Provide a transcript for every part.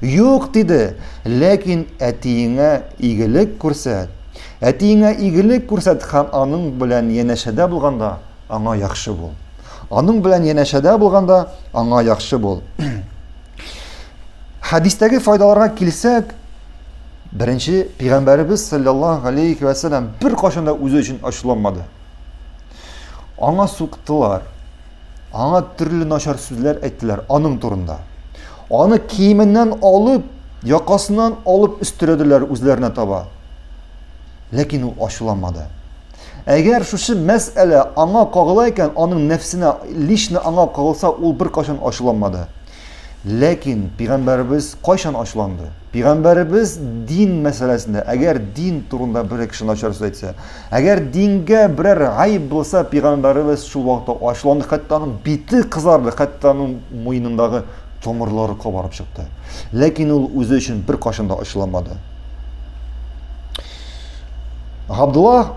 Юк, диде, ләкин әтиеңә игелек күрсәт. Әтиеңә игелек күрсәт һәм аның белән янәшәдә булганда аңа яхшы бул. Аның белән янәшәдә булганда аңа яхшы бул. Хәдистәге файдаларга килсәк, беренче пигамбәребез саллаллаһу алейхи ва саллям бер кашында үзе өчен ачуланмады. Аңа суктылар. Аңа төрле начар сүзләр әйттеләр аның турында. Аны киеменнән алып, якасыннан алып өстерәделәр үзләренә таба. Ләкин ул ачуланмады. Әгәр шушы мәсьәлә аңа кагыла икән, аның нәфсенә, лично аңа кагылса, ул беркайчан ачуланмады. Ләкин пигамбәребез кайчан ачуланды? Пигамбәребез дин мәсьәләсендә, әгәр дин турында бер кеше начар сүз әйтсә, әгәр дингә берәр гаиб булса, пигамбәребез шул вакытта ачуланды, хәтта аның бите кызарды, хәтта аның муенындагы томырлары кабарып чыкты. Ләкин ул үзе өчен бер кашында да ачуланмады. Габдуллах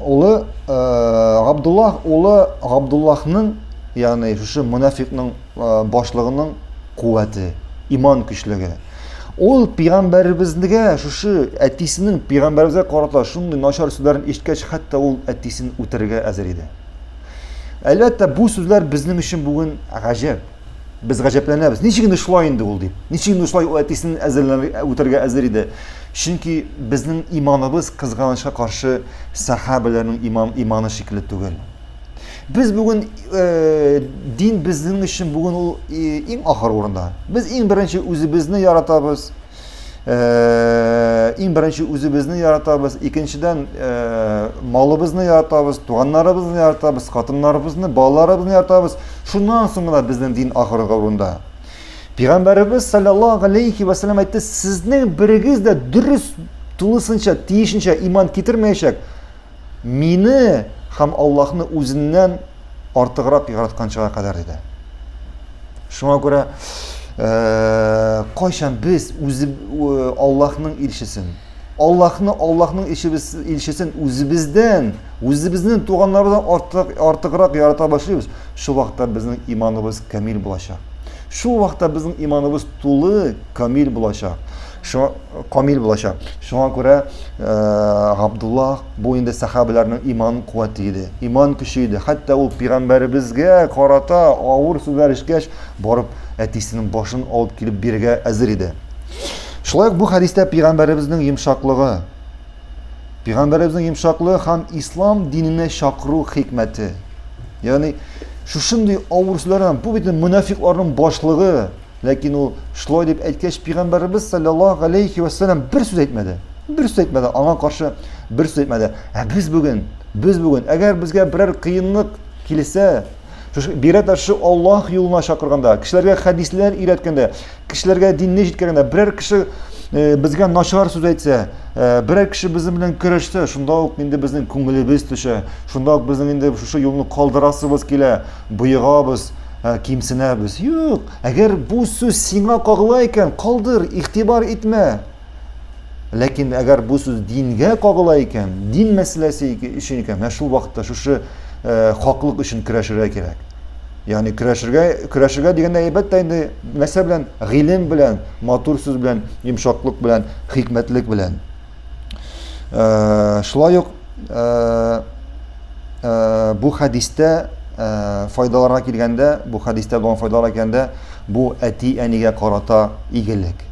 улы Габдуллах улы Габдуллахның, ягъни шушы мунафикның башлыгының куәте, иман көчлеге. Ул пигамбәребезгә шушы әтисенең пигамбәребезгә карата шундый начар сүзләрен ишеткәч, хәтта ул әтисен үтерергә әзер иде. Әлбәттә, бу сүзләр безнең өчен бүген гаҗәп. Без гаҗәпләнәбез. Ничек инде шулай инде ул дип? Ничек инде шулай ул әтисен үтерергә әзер иде? Чөнки безнең иманыбыз кызганычка каршы сахабәләрнең иман иманы шикелле түгел. Без бүген э, дин безнең өчен бүген ул э, иң ахыр урында. Без иң беренче үзебезне яратабыз. Э, иң беренче үзебезне яратабыз, икенчедән э, малыбызны яратабыз, туганнарыбызны яратабыз, хатыннарыбызны, балаларыбызны яратабыз. Шуннан соң гына безнең дин ахыргы урында. Пәйгамбәребез саллаллаху алейхи ва саллям әйтте, сезнең берегез дә дөрес тулысынча, тиешенчә иман китермәячәк, Мине һәм Аллаһны үзеннән артыграк яратканчыга кадәр диде. Шуңа күрә э, кайчан без үзе э, Аллаһның илчесен, Аллаһны Аллаһның илчесен үзебездән, үзебезнең туганнардан артык, артыграк ярата башлыйбыз, шул вакытта безнең иманыбыз камил булачак. Шул вакытта безнең иманыбыз тулы, камил булачак. Шуңа камил булачак. Шуңа күрә Габдулла бу инде сахабәләрнең иман куәте иде. Иман көче иде. Хәтта ул пигамбәребезгә карата авыр сүзләр ишкәч, барып әтисенең башын алып килеп бирергә әзер иде. Шулай ук бу хәдистә пигамбәребезнең йомшаклыгы, пигамбәребезнең йомшаклыгы һәм ислам диненә чакыру хикмәте. Ягъни шушындый авыр сүзләрдән бу бит мөнафикларның башлыгы Ләкин ул шулай дип әйткәч, пигамбәребез саллаллаһу алейхи ва саллям бер сүз әйтмәде. Бер сүз әйтмәде, аңа каршы бер сүз әйтмәде. Ә без бүген, без бүген, әгәр безгә берәр кыенлык килсә, бигрәк тә шул Аллаһ юлына чакырганда, кешеләргә хәдисләр өйрәткәндә, кешеләргә динне җиткергәндә, берәр кеше э, безгә начар сүз әйтсә, э, берәр кеше безнең белән көрәшсә, шунда ук инде безнең күңелебез төшә, шунда ук безнең инде шушы юлны калдырасыбыз килә, боегабыз, Ә кимсенәбез. Юк, әгәр бу сүз сиңа кагыла икән, калдыр, игътибар итмә. Ләкин әгәр бу сүз дингә кагыла икән, дин мәсьәләсе өчен икән, менә шул вакытта шушы э, хаклык өчен көрәшергә кирәк. Ягъни көрәшергә, көрәшергә дигәндә әлбәттә инде нәрсә белән? Гыйлем белән, матур сүз белән, йомшаклык белән, хикмәтлек белән. Э, шулай ук э, э, бу хәдистә файдаларга килгәндә бу хәдистә булган файдаларга килгәндә бу әти әнигә карата игелек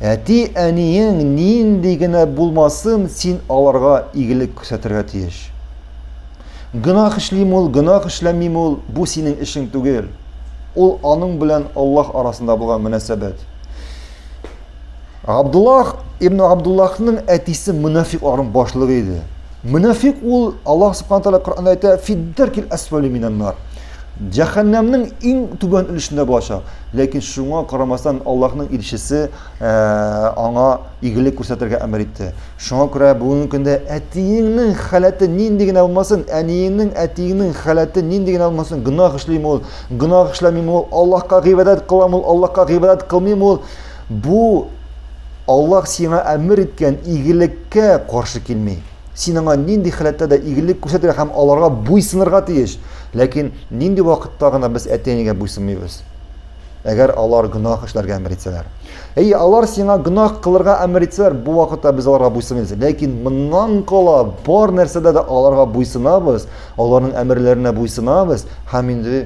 әти әниең нинди генә булмасын син аларга игелек күрсәтергә тиеш гөнаһ эшлим ул гөнаһ эшләмим ул бу синең эшең түгел ул аның белән аллаһ арасында булган мөнәсәбәт Габдуллах ибн Габдуллахның әтисе мунафикларның башлыгы иде. Мунафик ул Аллаһ субхана тәгалә Коръәндә әйтә, "Фиддәркил асфали минаннар". Җәһәннәмнең иң түбән өлешендә булачак. Ләкин шуңа карамастан Аллаһның илчесе э, аңа игелек күрсәтергә әмер итте. Шуңа күрә бүгенге көндә әтиеңнең халәте нинди генә булмасын, әниеңнең, әтиеңнең халәте нинди генә булмасын, гөнаһ эшлим ул, гөнаһ эшләмим ул, Аллаһка гыйбадәт кылам ул, Аллаһка гыйбадәт кылмыйм ул, Бу Аллаһ сиңа әмер иткән игелеккә каршы килми. Син аңа нинди халәттә дә игелек күрсәтергә һәм аларга буйсынырга тиеш. Ләкин нинди вакытта гына без әти-әнигә буйсынмыйбыз? Әгәр алар гөнаһ эшләргә әмер итсәләр. Әйе, алар сиңа гөнаһ кылырга әмер итсәләр, бу вакытта без аларга буйсынмыйбыз. Ләкин моннан кала бар нәрсәдә дә аларга буйсынабыз, аларның әмерләренә буйсынабыз һәм инде